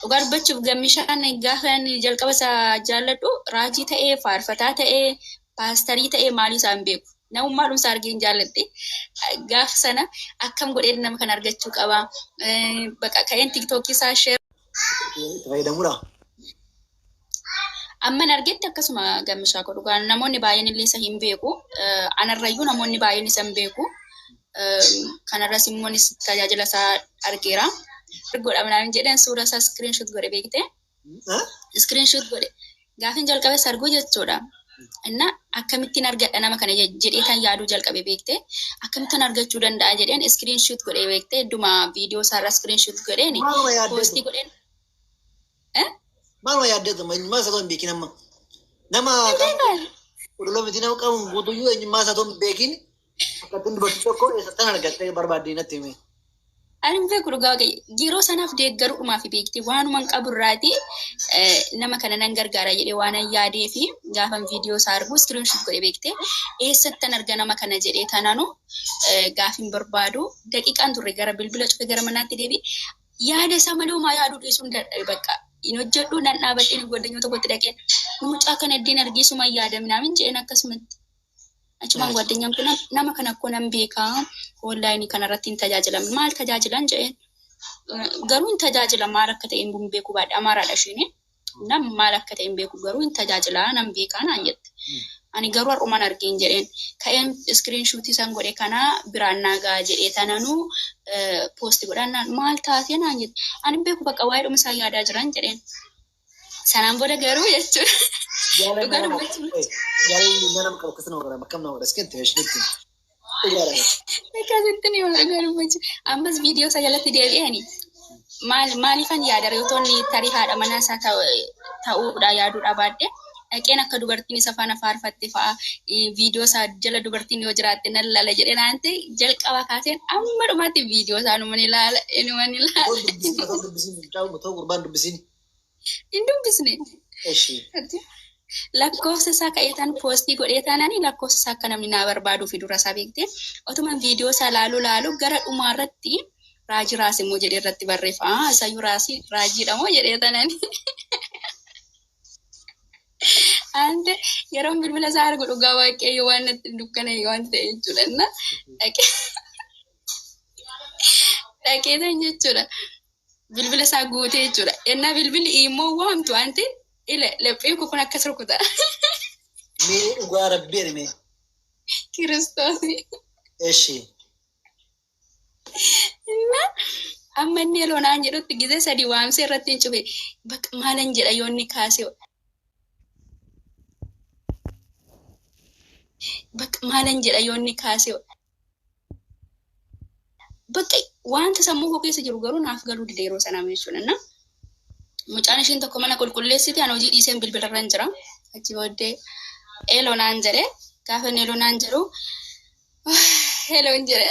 Dhugaa dubbachuuf gammishaan gaafa inni jalqaba isaa jaalladhu raajii ta'ee faarfataa ta'ee paastarii ta'ee maalii isaa hin beeku. Namummaa dhumsaa argee hin jaalladhe. Gaafa sana akkam godhee nama kana argachuu qaba. Baqa ka'een tiktookii isaa sheer. Itti fayyadamudha. Amman argetti akkasuma gammishaa koo dhugaa namoonni baay'een illee isa hin beeku. Eh, Anarrayyuu namoonni baay'een isa hin beeku. Eh, Kanarras immoo anis tajaajila isaa argeera. Godha minaan jedhan suura isaa screenshot godhe beekte. Screenshot godhe. Gaafin jalqabe sarguu jechuudha. Inna akkamittiin argadha nama kana je- jedhee kan yaaduu jalqabe beekte. Akkamittiin argachuu danda'a jedheen screenshot godhe beekte. Idduma viidiyoo isaarra screenshot godheen Maaluma yaaddeetu? poostii godheen. Maaluma yaaddatu eenyummaa isaa osoo hin beekin amma. Nama qulqulluu miti nama qabuun guutuyyuu eenyummaa isaa osoo hin beekin akka ittiin dubartii tokko eessattan argattee barbaadde natti hime. Ani hin beeku dhugaa ga'e. Yeroo sanaaf deeggaruudhumaa fi beekti waanuma hin qabu irraati nama kana nan gargaara jedhee waan an yaadee fi gaafan viidiyoo isaa argu iskiriinshot godhe beekte eessattan arga nama kana jedhee tananu gaafin barbaadu daqiiqaan turre gara bilbila cufe gara manaatti deebi yaada isaa malee homaa yaaduu dhiisuun dadhabe bakka hin hojjedhu nan dhaabadhee ni godhanyoo tokkotti dhaqeen mucaa kana iddeen argee suma hin yaadaminaa min jedheen akkasumatti. Achumaan Yes. guwaddanyaan kun nama kana akkoo nan beekaa onlaayinii kanarratti hin tajaajilamne maal tajaajilan jedheen Eh, garuu hin tajaajilan maal akka ta'e hin beeku baadha amaaraadha isheen Nam maal akka ta'e hin beeku garuu hin tajaajilaa nan beekaa naan jette. Ani garuu har'uman argeen jedheen. Ka'een iskiriin shuutii san godhe kana biraan naa ga'a jedhee tananuu poosti godhaan naan maal taatee naan jette. Ani hin beeku bakka waa'ee dhuma isaa yaadaa jiran jedheen. Sanaan booda garuu jechuudha. Dhugaa dubbachuun. Jaalalli nama qabu akkasuma godhama akkam nama godha iskatti meeshinitti. Akkasitti ni waan garuu ammas viidiyoo isaa jalatti deebi'ani maal maaliifan yaada reeyotoonni tarii haadha manaa isaa ta'uudha yaaduu dhabaadde dhaqeen akka dubartiin isa faana faarfatte fa'a viidiyoo isaa jala dubartiin yoo jiraatte nan laala jedhee naan ta'e jalqaba kaaseen amma dhumaatti viidiyoo isaa numan ilaala inuman ilaala. Gurbaan dubbisiin hin caawu ta'u gurbaan dubbisiin. Hin dubbisne. Eshi. Lakkoofsa isaa ka'eetaan poostii godhee taanani lakkoofsa isaa akka namni naa barbaaduu fi dura isaa beekte otuman viidiyoo isaa laaluu laaluu gara dhumaa irratti raajii raase immoo jedhee irratti barreeffa aa isayyuu raasii raajiidha moo jedhee taanani ante yeroon bilbila isaa argu dhugaa waaqayyo waan natti dukkana waan ta'e jechuudha inna dhaqee dhaqeetan jechuudha bilbila isaa guutee jechuudha. Ennaa bilbilli immoo waamtu anti ile laphee koo kun akkas rukuta. Mee dhugaa rabbii ani mee. Kiristoos. Eshi. Innaa amma inni yeroo naan jedhutti gizee sadii waamsee irratti hin cufe. Bakka maalan jedha yoo inni kaasee. Bakka maalan jedha yoo inni kaasee. Bakka wanta sammuu koo keessa jiru garuu naaf galuu dide yeroo sanaa jechuudha. Na mucaan ishiin tokko mana qulqulleessiti an hojii dhiiseen bilbilarran jira. Achi booddee eeloo naan jedhe gaafa inni eeloo naan jedhu eeloo hin jedhe.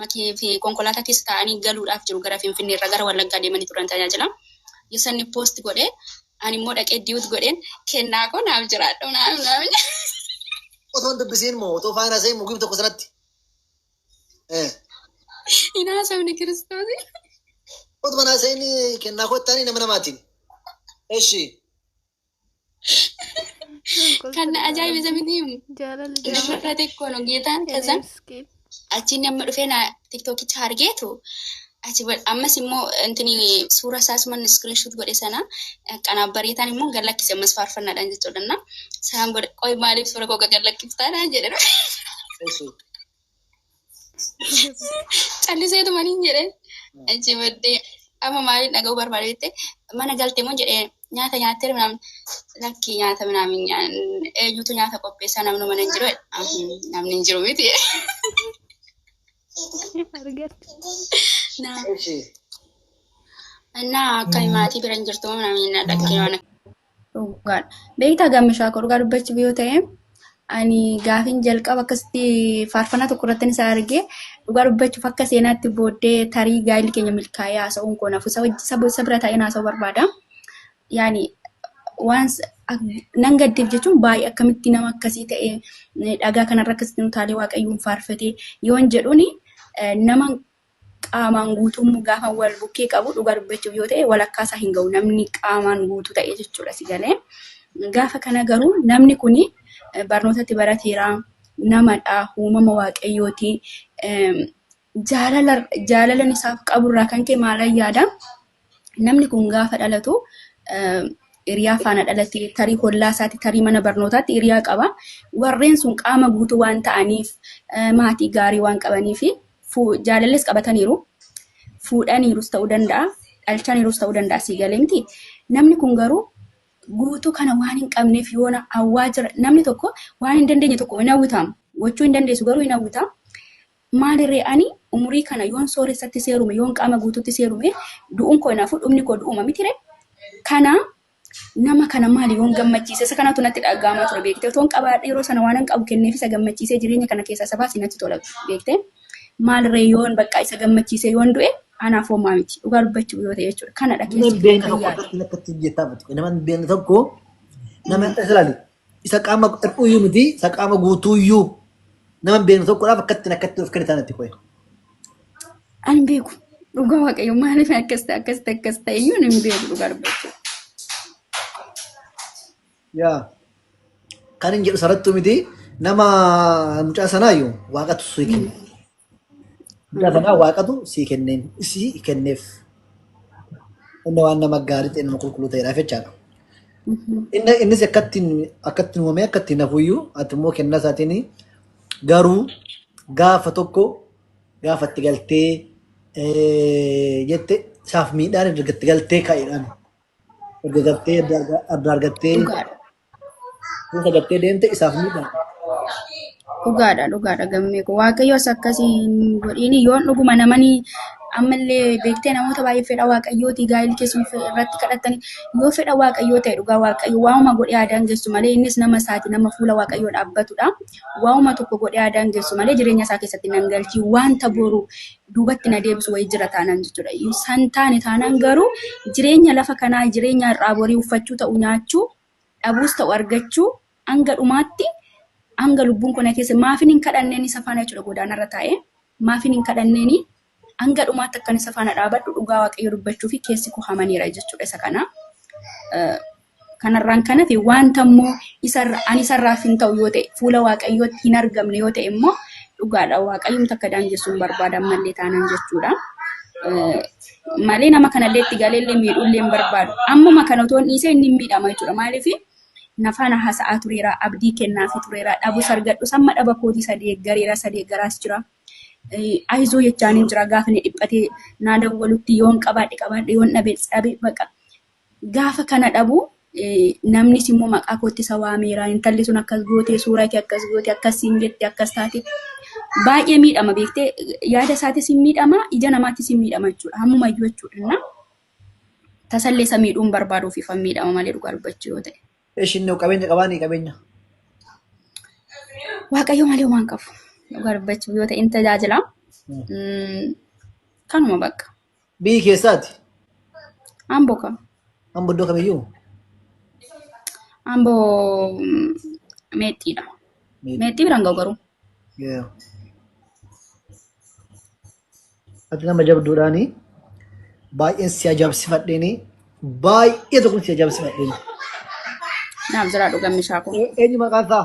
Makii fi konkolaataa keessa taa'anii galuudhaaf jiru gara Finfinnee irraa gara Wallaggaa deemanii turan tajaajila. Yosanni poost godhee ani immoo dhaqee diyuut godheen kennaa koo naaf jiraadhu naaf naaf. Otoo hin dubbisiin moo otoo faana seen mugib tokko sanatti. Eh. Hin haasofne kiristoosii. Otuma naa seen kennaa koo ittaanii nama namaatiin. Eshi. Kan na ajaa'ibe sabini himu. Jaalala Shamarra xiqqoo nu geetaan kasan Eneemskiin. achi inni amma dhufee na tiktokicha argeetu achi ba- ammas immoo intini suura isaas man screenshot godhe sana qanaaf bareetaan immoo gad lakkise ammas faarfannaadhaan jechuudha na sanaan booda qoy maaliif suura koo gad lakkiftaadhaan jedhe Esu. Calliseetu maliin jedheen achi baddee amma maaliin dhaga'uu barbaade jettee mana galte moo jedhee nyaata nyaattee minaamin lakki nyaata minaamin nyaan- eenyutu nyaata qopheessaa namni mana hin jiru jedhe. Ahim, namni hin jiru miti argatte. naa Ishii. naa akka maatii bira hin jirtu moo minaamin naa dhaggee waan Dhugaadha. Beektaa gammishaa koo dhugaa dubbachuuf yoo ta'e ani gaafiin jalqaba akkasitti faarfannaa tokko irratti isa argee dhugaa dubbachuuf akka seenaatti booddee tarii gaa'illi keenya milkaa'ee haasa'uun koo nafu isa wajji- isa bo- isa bira taa'een haasa'uu barbaada. Yaani waan s- ak- nan gaddeef jechuun baay'ee akkamitti nama akkasii ta'e eh, dhagaa kanarra akkasitti utaalee waaqayyoon faarfatee yoon jedhuuni eh, nama qaamaan guutuu immoo gaafa wal bukkee qabu dhugaa dubbachuuf yoo ta'e walakkaa isaa hin ga'u namni qaamaan guutuu ta'e jechuudha si galee. Gaafa kana garuu namni kun barnootatti barateera namadha uumama waaqayyooti jaalala jaalalan isaaf qaburraa kan ka'e maalan yaada Namni kun gaafa dhalatu hiriyaa faana dhalate tarii hollaa isaatti tarii mana barnootaatti hiriyaa qaba. Warreen sun qaama guutuu waan ta'aniif maatii gaarii waan qabaniif jaalallis qabataniiru. Fuudhaniirus ta'uu danda'a. Dhalchaniirus ta'uu danda'a sii galee miti. Namni kun garuu guutuu kana waan hin qabneef yoona hawwaa jira. Namni tokko waan hin dandeenye tokko hin hawwitaam. Gochuu hin dandeessu garuu hin hawwitaam. Maali ree ani umurii kana yoon sooressatti seerume, yoon qaama guutuutti seerume, du'uun koo hinaafu, dhumni koo du'uma miti ree? Kana nama kana maali yoon gammachiise? Isa kanatu natti dhaga'amaa ture beekte. Otoon qabaadhe yeroo sana waanan qabu kenneef isa gammachiisee jireenya kana keessaa isa baase natti tola beekte. Maal ree yoon bakka isa gammachiisee yoon du'e anaaf homaa miti. Dhugaa dubbachuuf yoo ta'e jechuudha. Kanadha Nama keessi hin koo beekne kan tokko yaadu. akkatti akkatti jettaa miti. Nama hin beekne tokko nama isa ilaali. Isa qaama hir'uuyyuu miti, isa qaama guutuuyyuu nama hin beekne tokkodhaaf akkattiin akkatti of kennitaan itti qo'e. Ani hin beeku. Dhugaa waaqayyo maaliif akkas ta'e akkas ta'e akkas ta'e iyyuu hin beeku dhugaa dubbachuu. Yaa kan hin jedhu sarattuu miti nama mucaa sanaayyuu waaqatu sii kenna. Humna kanaa waaqatu sii kenneen isii kenneef. Inni waan nama gaarii ta'e nama qulqulluu ta'eedhaaf jechaadha. Inni innis akkattiin akkattiin uumamee akkattiin hafuyyuu ati immoo kennaa isaatiin garuu gaafa tokko gaafa itti galtee eh, jette isaaf miidhaan erga itti galtee ka'eedhaan erga galtee adda adda argattee Dhugaadha. Kuusa gattee deemte isaaf miidhaa. Dhugaadha dhugaadha gammee koo waaqayyoos akkasii hin godhiin yoon dhuguma namani ammallee beektee namoota baay'ee fedha waaqayyootii gaa'illi keessuun fe- irratti kadhattanii yoo fedha waaqayyoo ta'e dhugaa waaqayyo waa'uma godhee aadaan geessu malee innis nama isaati nama fuula waaqayyoo dhaabbatudha waa'uma tokko godhee aadaan geessu malee jireenya isaa keessatti nan galchii wanta boru duubatti na deebisu wayii jira taanaan jechuudha. San taane taanaan garuu jireenya lafa kanaa jireenya har'aa borii uffachuu ta'u nyaachuu dhabuus ta'u argachuu hanga dhumaatti hanga lubbuun kona keessa maafin hin kadhanneen isa faana jechuudha godaanarra taa'ee maafin hin kadhanneen hanga dhumaatti akkan isa faana dhaabadhu dhugaa waaqayyo dubbachuu fi keessi koo hamaneera jechuudha isa kana. Kanarraan kan hafe wanta immoo ani isarraaf hin ta'u yoo ta'e fuula waaqayyootti hin argamne yoo ta'e immoo dhugaadha waaqayyoon takka daangessuun barbaadan malee taanaan jechuudha. Malee nama kanallee itti galeellee miidhullee hin barbaadu. Ammuma kana otoo hin dhiisee inni miidhama jechuudha. Maaliif nafaana haasa'aa tureera abdii kennaafi tureera dhabu sargadhu samma dhaba kootii sadee gareera sadee garaas jira. Ayizoo jechaan hin jira gaafa inni dhiphatee naa dawwalutti yoon qabaadhe qabaadhe yoon dhabe dhabe baqa Gaafa kana dhabu namnis immoo maqaa kootti isa waameera. Intalli sun akkas gootee suuraa kee akkas gootee akkas siin jette akkas taate baay'ee miidhama beektee yaada isaatis hin miidhama ija namaatis hin miidhama jechuudha. Hammuma iyyuu jechuudha. Tasallee isa miidhuun barbaaduuf ifan miidhama malee dhugaa dubbachuu yoo ta'e. Ishiin noo qabeenya qabaanii qabeenya. Waaqayyo malee waan qabu dhugaa dubbachuu yoo ta'e in tajaajila. Kanuma bakka. Biyyi keessaati. Amboo kam? Amma iddoo kamiyyuu Amboo mm, meexxiidha. miidha. Meexxii biraan ga'u garuu. Yeah. Ati nama jabduudhaani baay'een si ajaa'ibsifadheeni baay'ee tokko si ajaa'ibsifadheeni. Naaf jiraadhu gammishaa koo. Eenyu maqaan isaa?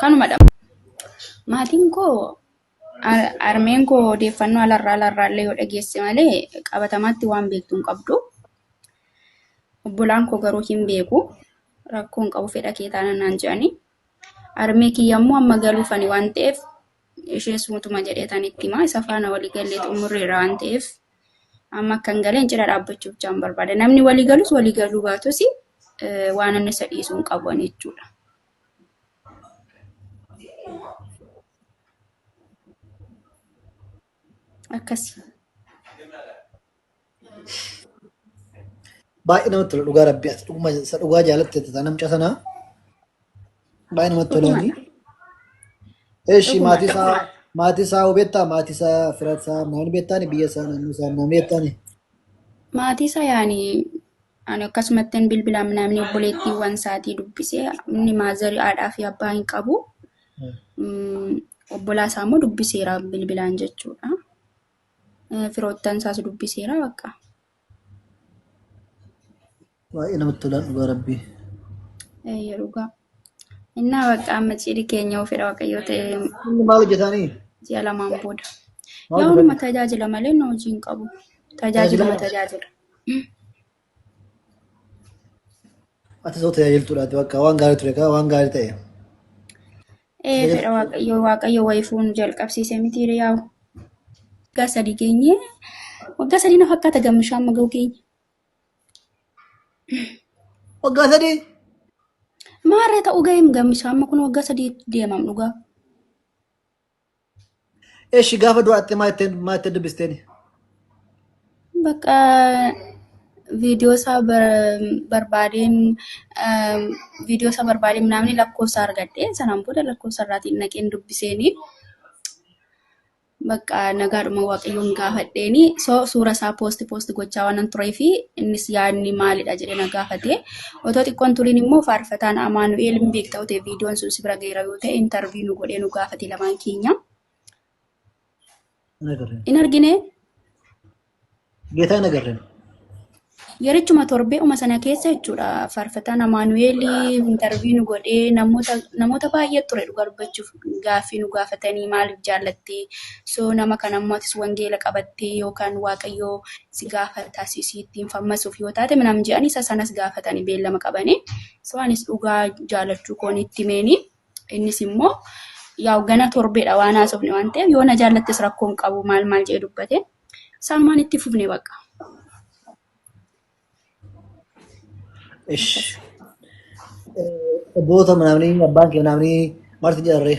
kanumadha maatiin koo armeen koo odeeffannoo alarraa alarraallee yoo dhageesse malee qabatamaatti waan beektu hin qabdu obbolaan koo garuu hin beeku rakkoon qabu fedha kee taana naan jedhani armee kiyya immoo amma galuufani waan ta'eef ishees mutuma jedhee tan itti himaa isa faana walii galee xumurreera waan ta'eef amma akkan galeen cina dhaabbachuu bichaan barbaada. Namni walii galus walii galuu baatus waan inni isa dhiisuu hin qabu jechuudha. Akkasi. Baay'ee namatti tola dhugaa rabbi ati dhuguma isa dhugaa jaalatte tataa namca sanaa baay'ee namatti tolaani. Eeshi Dhuguma, maatii isaa dhuguma. maatii isaa hoo beektaa maatii isaa fira isaa maal beektaani biyya isaa naannoo isaa maal beektaani. Maatii isaa yaani ani akkasumatti hin bilbilaa namni obboleettiiwwan isaatii dubbisee inni maazarii haadhaa fi abbaa hin qabu. Mm, Obbolaa isaa immoo dubbiseera bilbilaan jechuudha. firoottan isaas dubbiseera bakka. Baay'ee namatti tola dhugaa rabbii. Eeyyee dhugaa. Innaa bakka amma cidhi keenya yoo fedha waaqayyoo ta'e Inni maal hojjetaanii? ji'a lamaan booda. Maal Yaa'unuma hojjetan? tajaajila malee na hojii hin qabu. Tajaajiluma Tajaajila? tajaajila. Ati soo tajaajiltuudha ati bakka waan gaarii ture kaa waan gaarii ta'e. Ee fedha waaqayyoo waaqayyo wayifuu nu jalqabsiise miti yaa'u. Waggaa sadii geenye waggaa sadii na fakkaata gammishaa amma ga'u geenye. Waggaa sadii Maarree ta'uu ga'eem gammishaa amma kun waggaa sadii deemam dhugaa. Eshi gaafa du'aatte maa ittiin maa ittiin dubbisteeni? Bakka viidiyoo isaa bar- barbaadeen ehm, viidiyoo isaa barbaadeen naamni lakkoofsa argadhe sanaan booda lakkoofsa irraatiin naqeen dubbiseeni bakka nagaadhuma waaqayyoon gaafadheeni so suura isaa poosti poosti gochaa waanan turee fi innis yaadni maalidha jedhee na gaafate Otoo xiqqoo hin turin immoo faarfataan Amaanu'eel hin beekta yoo ta'e viidiyoon sun si bira ga'eera yoo ta'e intarviyuu nu godhee nu gaafate lamaan keenya. Hin agarre. Hin argine Geetaa hin agarre. yerichuma torbee'uma sana keessa jechuudha faarfataan Amaanu'eel intarviyuu nu godhee namoota namoota baay'ee ture dhugaa dubbachuuf. gaaffii nu gaafatanii maaliif jaallattee soo nama kan ammoo atis wangeela qabattee yookaan waaqayyoo si gaafataa si si ittiin fammasuuf yoo taate minam jedhanii isa sanas gaafatanii beellama qabanii soo anis dhugaa jaallachuu koon itti meenii innis immoo yaa'u gana torbeedha waan haasofne waan ta'eef yoo na jaallattes rakkoon qabu maal maal jedhee dubbate isaanumaan itti fufne baqa. Ish. Obboota namni abbaan kee namni marti jarree.